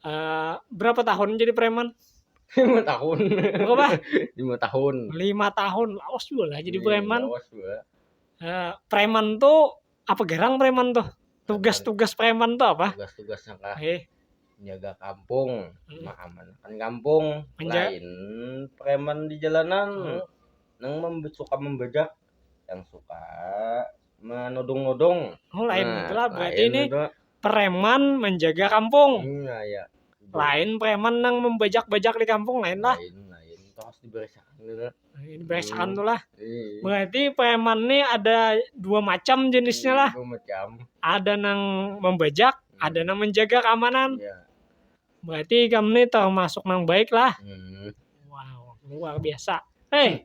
Eh, berapa tahun jadi preman? lima tahun Berapa? lima tahun Lima tahun. Lawas juga lah jadi Iya, preman. lawas gua. Eh, preman tuh apa gerang preman tuh? Tugas-tugas preman tuh apa? tugas-tugasnya kah Eh, jaga kampung Hmm. mengamankan kampung Menja- lain preman di jalanan Hmm. nang mem- suka membajak yang suka menudung-nudung. Oh, lain Nah, itulah berarti lain ini itu. preman menjaga kampung. Hmm, nah, ya. Lain preman nang membajak-bajak di kampung lain lah. Lain, lain. Itu harus diberesakan gitu. Ini beresakan Hmm. tuh lah. Ih, Berarti preman nih ada dua macam jenisnya lah. itu macam. Ada nang membajak, Hmm. ada nang menjaga keamanan. Ya. Berarti kamu nih termasuk nang baik lah. Hmm. Wow, luar biasa. Hei,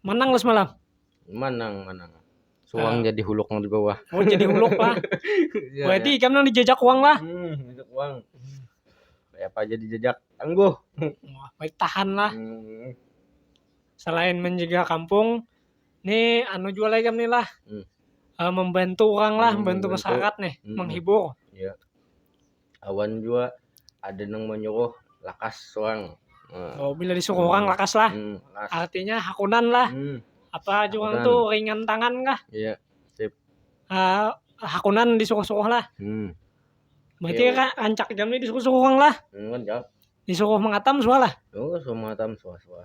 Manang lah semalam. Manang, manang. Suang jadi huluk nang di bawah. Oh jadi huluk lah. Ya, Berarti ikam nang dijajak uang lah. ya. Hmm, jajak uang. Kayak apa aja dijajak. Tangguh. Wah, baik tahan lah. Hmm. Selain menjaga kampung, nih anu jual ikam nih lah. Hmm. Eh, membantu orang lah, Hmm, membantu membantu. masyarakat nih, Hmm. menghibur. Iya. awan jua ada nang manyuruh lakas sorang Nah, Oh, bila disuruh orang lakas lah. hmm, lakas Artinya hakunan lah. hmm, Apa aja orang Hakunan. tu ringan tangan kah? iya Ah, hakunan disuruh-suruh lah. hmm, Berarti Iya. ra- rancak jam ni disuruh-suruh orang lah. hmm, kan jauh Disuruh mengatam suah lah. oh semua tam suah-suah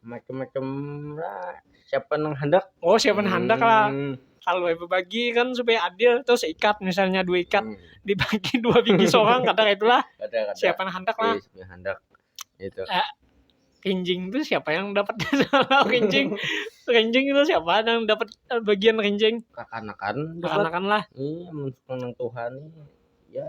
macam-macam lah siapa nang handak oh siapa nang handak lah Hmm. kalau yang berbagi kan supaya adil tuh seikat misalnya dua ikat Hmm. dibagi dua biji seorang kata itulah Kada-kada. siapa nang handak lah Eh, siapa yang handak itu rinjing tuh siapa yang dapat salah rinjing rinjing itu siapa yang dapat eh, bagian rinjing kekanakan dapat kekanakan lah Iya, mensukan nang Tuhan ya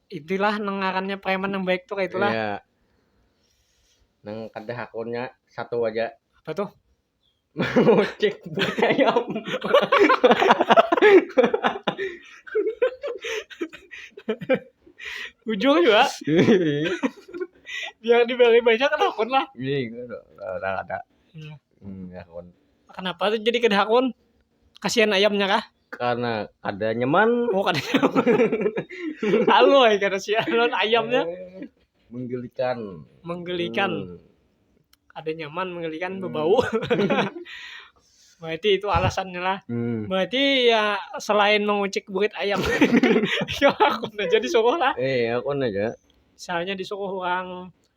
Itulah nang ngarannya preman nang baik tuh kayak itulah. Iya. Nang kada hakunnya satu aja. Apa tuh? Mengocek budaya. Ujung juga. Biar dibeli banyak kan hakun lah. Iya, udah ada. Iya. Hmm, hakun. Kenapa tuh jadi kada hakun? Kasihan ayamnya kah? karena kada nyaman oh kada nyaman halo ya kada sih non ayamnya eh, menggelikan menggelikan hmm. ada nyaman menggelikan hmm. berbau berarti itu alasannya lah hmm. berarti ya selain mengucik burit ayam ya aku aja disuruh lah eh aku aja misalnya disuruh orang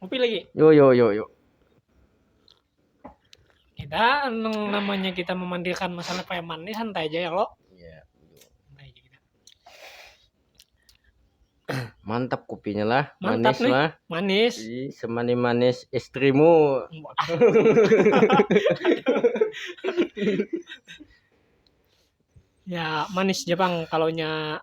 Kopi lagi. Yo yo yo yo. Kita anu namanya kita memandilkan masalah preman ini santai aja ya lo. Iya. Santai aja kita. Mantap kopinya lah, Mantap manis nih. lah. Manis. Ih, Semani manis istrimu. Ya manis Jepang kalau nya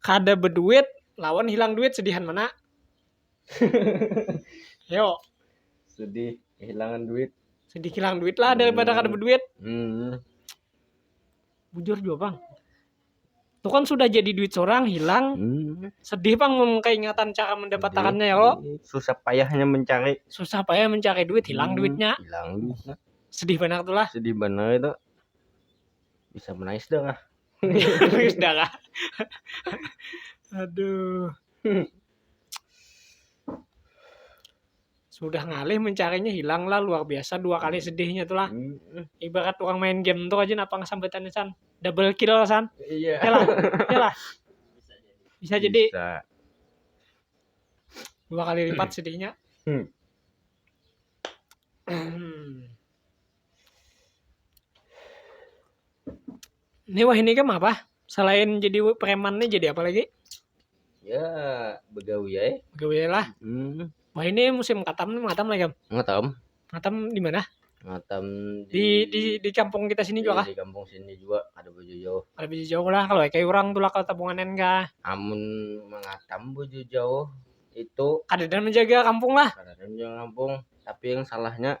kada beduit lawan hilang duit sedihan mana yo sedih kehilangan duit sedih hilang duit lah daripada hmm. kada berduit hmm. bujur juga bang itu kan sudah jadi duit seorang hilang hmm. sedih bang keingatan cara mendapatkannya ya kok susah payahnya mencari susah payah mencari duit hilang hmm. duitnya hilang duitnya sedih banget tuh lah sedih banget itu bisa menangis darah menangis darah aduh hmm. sudah ngalih mencarinya hilang lah luar biasa dua kali sedihnya tuh lah hmm. ibarat orang main game tuh aja napa ngesambetannya san double kill san iya yeah. lah iya lah bisa jadi bisa. dua kali lipat sedihnya hmm. hmm. Ini wahini kam apa? Selain jadi preman nih jadi apa lagi? Ya begawi ya. Begawi lah. Hmm. Wah ini musim katam nih, katam lagi kam. Ngatam. Ngatam di mana? Ngatam Di di di kampung kita sini juga kah? di kampung sini juga ada bojo jauh. Ada biji jauh lah kalau kayak orang tuh lah kalau tabunganan kah? Amun mengatam bojo jauh itu Kadada menjaga kampung lah. kadang yang kampung tapi yang salahnya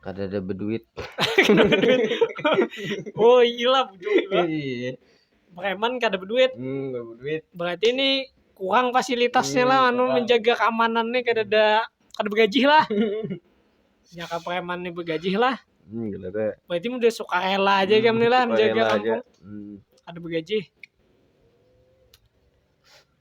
Kada ada beduit. Kada beduit. oh iyalah bujur juga. Iya. Preman kada beduit. Hmm, kada beduit. Berarti ini kurang fasilitasnya hmm, lah anu kurang. menjaga keamanannya kada ada kada bergajih lah. ya ke preman ini bergajih lah. Hmm, kada ada. Berarti udah suka rela aja hmm, kami lah menjaga kampung. Hmm. Ada bergajih.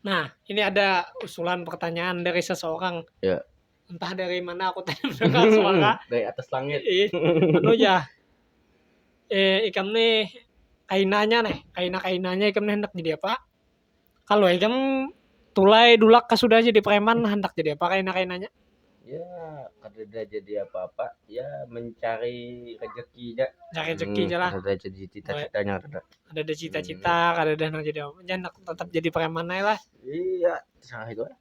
Nah, ini ada usulan pertanyaan dari seseorang. Ya. Entah dari mana aku tadi mendengar suara. Dari atas langit. Ih, anu ya. Eh, ikam nih kainanya nih, kaina-kainanya ikam nih hendak jadi apa? Kalau ikam tulai dulak sudah jadi preman hendak jadi apa kaina-kainanya? ya kadada jadi apa-apa ya mencari rezeki ja Cari rezeki Hmm, ja lah. kadada jadi cita-citanya kadada Ada ada cita-cita, kada ada nang jadi apa. Jangan aku tetap jadi preman ae lah. iya salah itu lah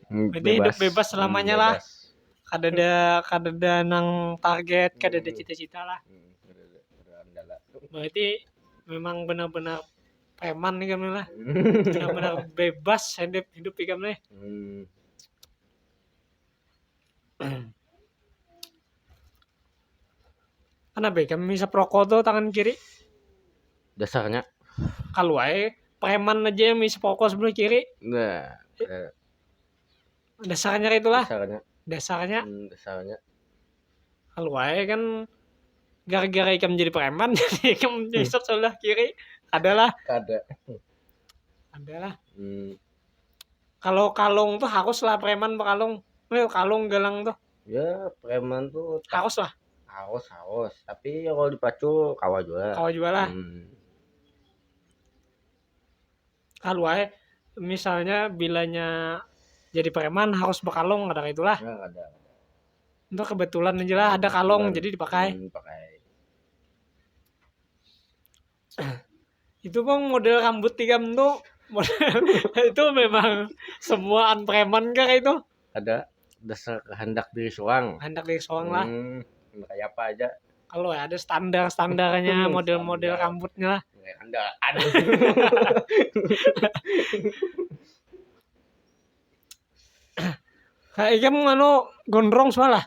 Hmm, Berarti hidup bebas selamanya lah. Bebas. Kada ada kada ada nang target, kada ada Hmm. cita-cita lah. Hmm, kadada, kadada andala. Berarti memang benar-benar preman ikam nih lah benar-benar bebas hidup hidup ikam nih hmm. kenapa ikam bisa perokok tuh tangan kiri dasarnya kalau aja preman aja yang bisa perokok sebelah kiri nah, eh. dasarnya itu lah dasarnya dasarnya hmm, dasarnya kalau wae kan gara-gara ikam jadi preman jadi ikam hmm. nyisap sebelah kiri adalah ada adalah hmm. kalau kalung tuh harus lah preman berkalung Leo kalung galang tuh ya preman tuh harus lah harus harus tapi ya kalau dipacu kawa juga kawa juga lah hmm. kalu ae misalnya bilanya jadi preman harus berkalung kadang itulah Nah, kada. itu kebetulan aja lah ada kalung Kebetulan. jadi dipakai Hmm, pakai. itu bang model rambut tiga itu model itu memang semuaan preman kah itu kada dasar kahandak diri suang handak dari soang lah Hmm, handak kaya apa aja kalau ada standar standarnya Hmm, model model standar. rambutnya lah Nggak handal aduh kayak ikam anu gondrong sualah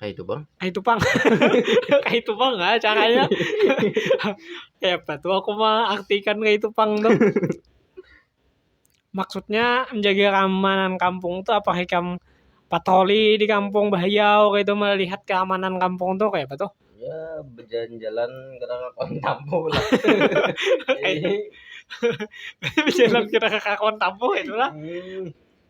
Kayak itu bang. Kayak itu bang. kayak itu bang ah caranya. Hebat tuh aku mah artikan kayak itu bang tuh. Maksudnya menjaga keamanan kampung tuh apa hikam patroli di kampung Bahayau kayak itu melihat keamanan kampung tuh kayak apa tuh? Ya berjalan-jalan karena kawan tampung lah. Berjalan kita ke kawan tampung itulah. Hmm.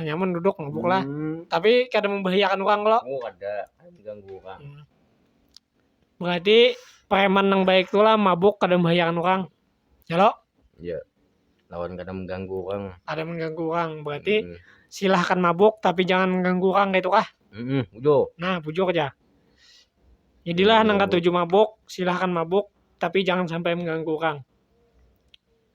nyaman duduk mabuk lah hmm. tapi kada membahayakan orang lo oh ada diganggu orang hmm. berarti preman yang baik tuh lah mabuk kada membahayakan orang ya lo iya lawan kada mengganggu orang ada mengganggu orang berarti hmm. silahkan mabuk tapi jangan mengganggu orang gitu kah hmm, bujur nah bujur aja jadilah hmm, nang ketujuh mabuk silahkan mabuk tapi jangan sampai mengganggu orang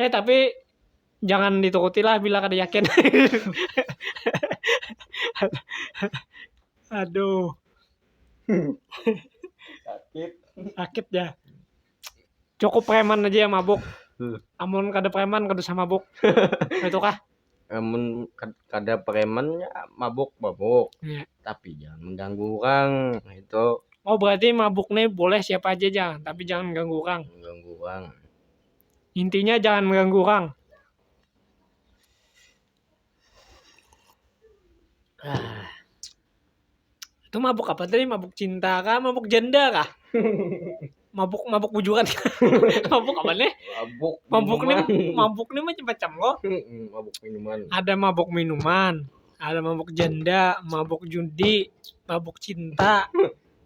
Eh tapi jangan dituruti lah bila kada yakin. Aduh. Sakit. Sakit ya. Cukup preman aja yang mabuk. Hmm. Amun kada preman kada usah mabuk. Itu kah? Amun kada preman ya mabuk mabuk. Ya. Tapi jangan mengganggu orang itu. Oh berarti mabuk nih boleh siapa aja jangan, tapi jangan ganggu orang. Mengganggu orang. Intinya jangan mengganggu orang. Ah. Itu mabuk apa tadi? Mabuk cinta kah? Mabuk janda kah? mabuk mabuk bujuran mabuk apa nih mabuk mabuk nih mabuk nih macam-macam loh mabuk minuman ada mabuk minuman ada mabuk janda mabuk judi mabuk cinta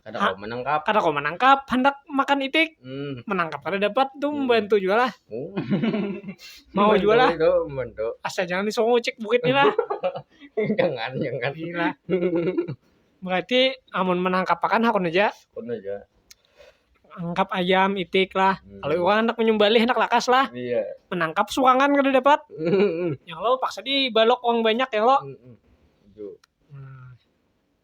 Kada Ah. kawa menangkap. kada kawa manangkap handak makan itik Hmm. menangkap kada dapat tu Hmm. membantu jua lah Oh. Mau jua lah. Itu membantu. asal jangan disuruh ngucik bukit ni lah jangan, jangan. gila berarti amun menangkap pakan hakun aja Kun aja. angkap ayam itik lah Hmm. kalau orang handak menyumbali handak lakas lah Iya. menangkap suangan kada dapat Hmm. yang lo paksa di balok uang banyak ya lo Hmm. Itu. Nah,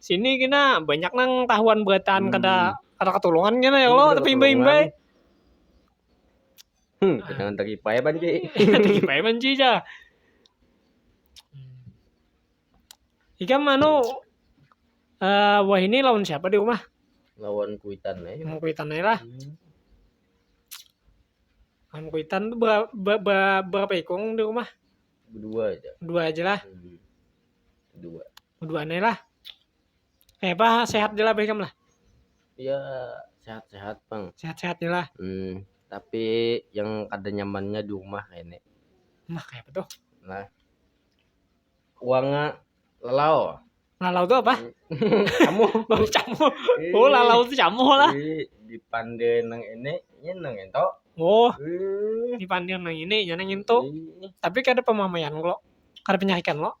Sini kena banyak nang tahuan berataan hmm. kada kada ketulungan kena ya Allah tapi imbai-imbai. Hmm, jangan terkipai banci. terkipai banci aja. Ika mano uh, wah ini lawan siapa di rumah? Lawan kuitan aja. Mau kuitan aja lah. Hmm. Lawan kuitan tuh berapa, berapa, berapa ikung di rumah? Dua aja. Dua aja lah. Hmm. Dua. Dua nih lah. Eh apa sehat lah Beckham lah. Ya sehat-sehat bang. Sehat-sehat lah. Hmm, tapi yang kada nyamannya di rumah ini. Nah kayak apa tuh? Nah, uangnya lelau. Lalau tuh apa? Kamu Oh, camu. Ih, Oh, lalau tuh camu lah. ih, di pandai nang ini, ini nang itu. Oh, Ih, di pandir nang ini, jangan ngintu. ih, Tapi kada pemamaian lo. Kada penyakitan lo.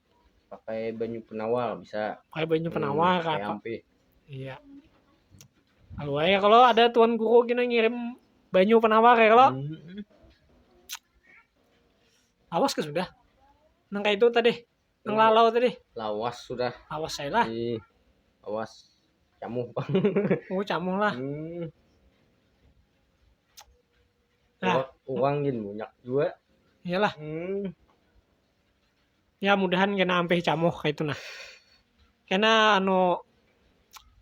pakai banyu penawar bisa pakai banyu hmm, penawar hmm, apa iya kalau ya kalau ada tuan guru gini ngirim banyu penawar ya kalau hmm. awas ke sudah nang kayak itu tadi nang hmm. lalau tadi lawas sudah awas saya lah iya. awas camuh oh camuh lah hmm. nah. uang gini banyak juga iyalah hmm. ya mudahan kena ampih camuh kaitu nah kena anu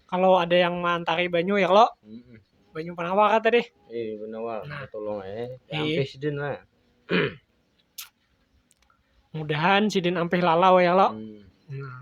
kalau ada yang mantari banyu ya lo hmm. banyu penawar kata deh eh penawar nah. tolong eh ampih sidin lah mudahan sidin ampih lalau ya lo hmm. nah.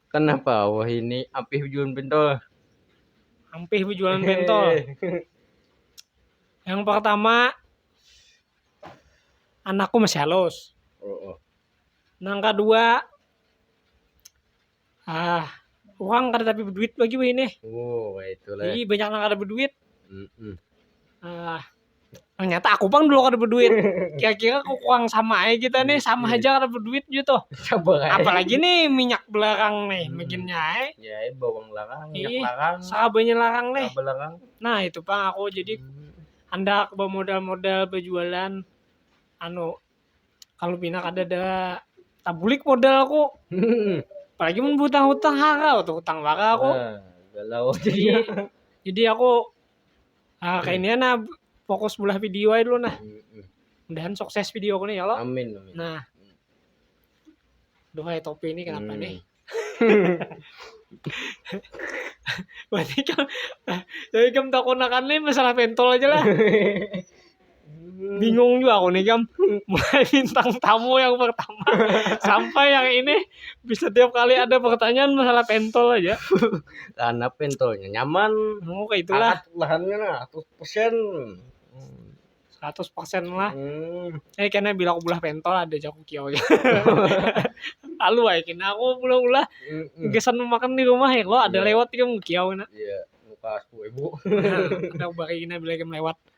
Kenapa wah ini ampih bejualan pentol? Ampih bejualan pentol. Yang pertama anakku masih halus. Oh, oh. Yang kedua ah uang kada tapi berduit lagi wah ini. Oh, wah itulah. Jadi banyak yang kada berduit. Mm -mm. Ah, Ternyata aku pang dulu kada berduit. Kira-kira kurang sama aja kita nih, sama iya. aja kada berduit gitu. Sabar Apalagi nih minyak belarang nih, hmm. makinnya eh. Ya, eh, bawang larang, minyak Ih, larang. Sabanya larang nih. Larang. Nah, itu pang aku jadi hmm. hendak bermodal-modal berjualan anu kalau pina kada ada tabulik modal aku. Hmm. Apalagi mun hutang-hutang harau tuh, hutang warau aku. Nah, galau jadi. jadi aku Ah, kayak ini nah fokus bulah video aja dulu nah. Mudahan sukses video ini ya lo. Amin, amin. Nah. Duhai topi ini kenapa hmm. nih? Berarti kan, tapi kan tak konakan nih masalah pentol aja lah. bingung juga aku nih jam mulai bintang tamu yang pertama sampai yang ini bisa tiap kali ada pertanyaan masalah pentol aja karena pentolnya nyaman oh kayak itulah Angkat lahannya nah, 100% seratus persen lah hmm. eh kena bilang aku belah pentol ada jaku kiau ya lalu aja kena aku belah belah mm gesan makan di rumah ya lo ada yeah. lewat juga kiau kena iya muka aku ibu ada bari kena bilang lewat